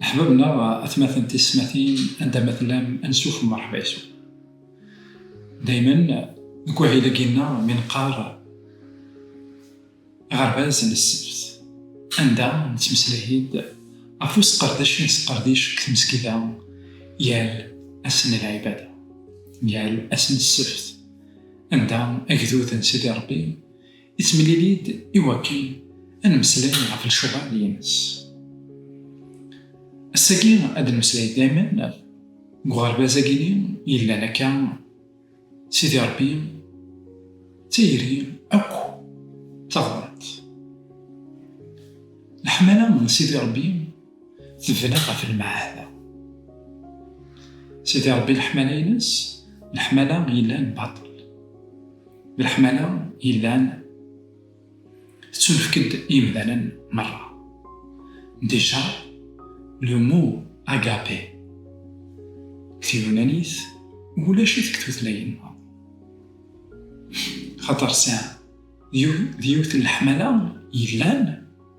Leḥbab neɣ atmaten tiyesmatin anda ma tellam ad nesufem merḥba yes-wen. Daymen deg wahil-agi nneɣ mi neqqar aɣerbaz n ssebt anda nettmeslay-d ɣef usqerdec i nesqerdic deg tmesgida yal ass n lɛibada, yal ass n ssebt anda agdud n Sidi Rebbi, Yettemlili-d i wakken ad nemmeslay ɣef lecɣal-ines. Ass-agi ad nemmeslay daymen deg uɣerbaz-agi-nni yellan akka, Sidi Rebbi, d tayri akk taɣbant. Leḥmala n Sidi Rebbi. Tebna ɣef lmeɛada. Sidi Ṛebbi leḥmala-ines, leḥmala yellan baṭel, d leḥmala yellan tettunefk-d i yemdanen merra. Déjà, le mot agape deg tyunanit ulac-it deg tutlayin meṛṛa. Axaṭer sɛan, d yiwet n leḥmala yellan.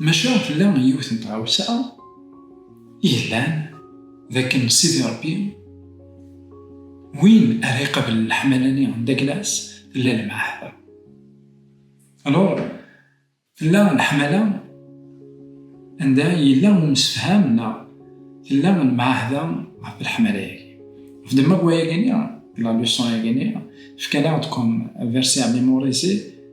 Maca tella yiwet n tɣawsa i yellan, d akken Sidi Ṛebbi, win ara iqablen leḥmala-nni n Daglas, tella lmeɛhada. Alor, tella leḥmala anda yella umsefham neɣ tella lmeɛhada ɣef leḥmala-yagi. Ɣef ddemma n wayagi-nni, la leçon-yagi-nni, fkan-aɣ-d comme verset à mémoriser,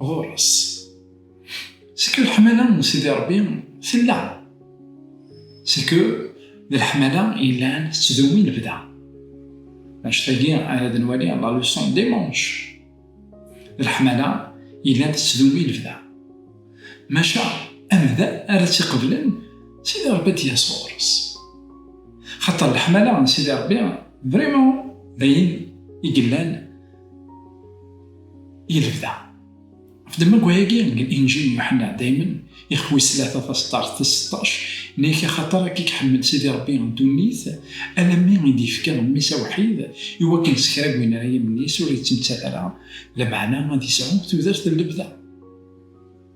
Ɣur-s. C'est que leḥmala n Sidi Ṛebbi tella. C'est que d leḥmala yellan tettdewwi lebda. Annect-agi ara d nwali la leçon dimanche. D leḥmala yellan tettdewwi lebda. Maca amdan ara tt-iqeblen Sidi Ṛebbi ad d-yas ɣur-s. Xaṭer leḥmala n Sidi Ṛebbi vraiment d ayen i yellan i lebda. Ɣef ddemma-agi n Inǧil n Yuḥenna, daymen, ixf wis tlata taseṭṭart tis seṭṭac, Nek axaṭer akka i iḥemmel Sidi Rebbi ddunit, alammi i d-yefka Mmi-s awḥid, i wakken s kra n win ara yimen-is ur yettmettat ara, lameɛna ad yesɛu tudert n lebda.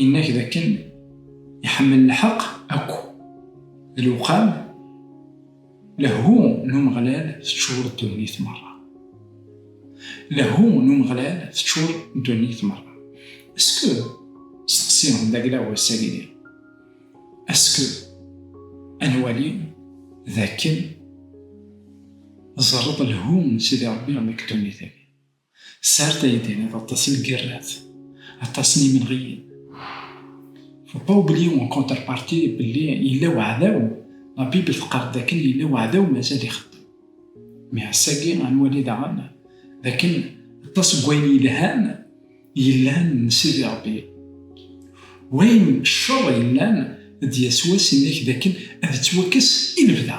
Yenna-k d akken iḥemmel lḥeq akk d lewqam, lehhu n Umeɣlal teččur ddunit merra. Lehhu n Umeɣlal teččur ddunit merra. Est-ce que, steqsi d aglaw ass-agi di, est-ce que ad nwali d akken tẓerreḍ lehhu n Sidi Rebbi deg ddunit-agi? Sɛiɣ taydi d aṭas n lgirrat, aṭas n yimenɣiyen. Faut pas oublier en contrepartie belli yella weɛdaw, la Bible teqqar-d dakken yella weɛdaw mazal ixeddem. Mais ass-agi ad nwali daɣen dakken aṭas n wayen yelhan yellan n Sidi Rebbi. Wayen ccer yellan d Yasuɛ, sin-ak dakken ad ittwakkes i lebda.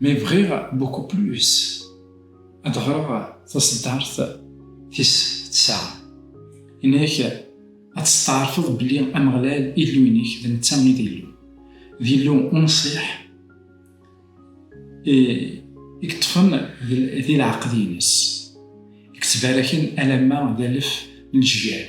mais bɣiɣ beaucoup plus ad ɣreɣ taṣeddart tis tesɛa. Yenna-ak, Ad testeɛrfeḍ belli Ameɣlal, Illu-inek, d netta i d Illu. D Illu unṣiḥ i yeṭṭfen di leɛqed-ines, i yettbaraken alamma d alef n lejyal.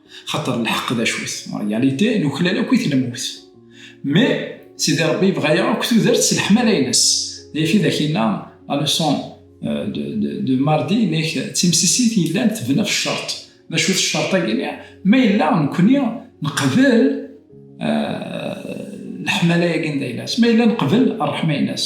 Xaṭer lḥeq d acu-t, en réalité, nuklal akk-it lmut. Mais, Sidi Rebbi yebɣa-yaɣ akk tudert s leḥmala-ines. D ayf i d ak-inna, la leçon de mardi, nek d timsisit yellan tebna ɣef ccerṭ. D acu-t ccerṭ-agi-nni? Ma yella nekni neqbel leḥmala-agi n dayla-s, ma yella neqbel rreḥma-ines.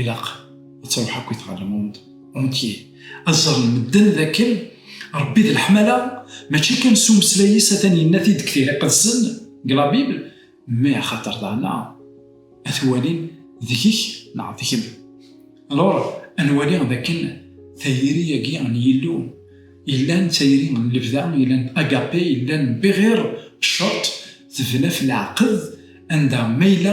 Ilaq ad tṛuḥ akk i tɣalamunt entier ad ẓren medden d akken Ṛebbi d leḥmala mačči kan s umeslay-is atan yenna-t-id deg Tira Iqedsen, deg la Bible, mais axaṭer daɣen ad t-walin deg-k neɣ deg-m. Alors ad nwali d akken tayri-agi n Yillu yellan d tayri n lebda, yellan agape, yellan bɣir cceṛt, tebna f leɛqed, anda ma yella,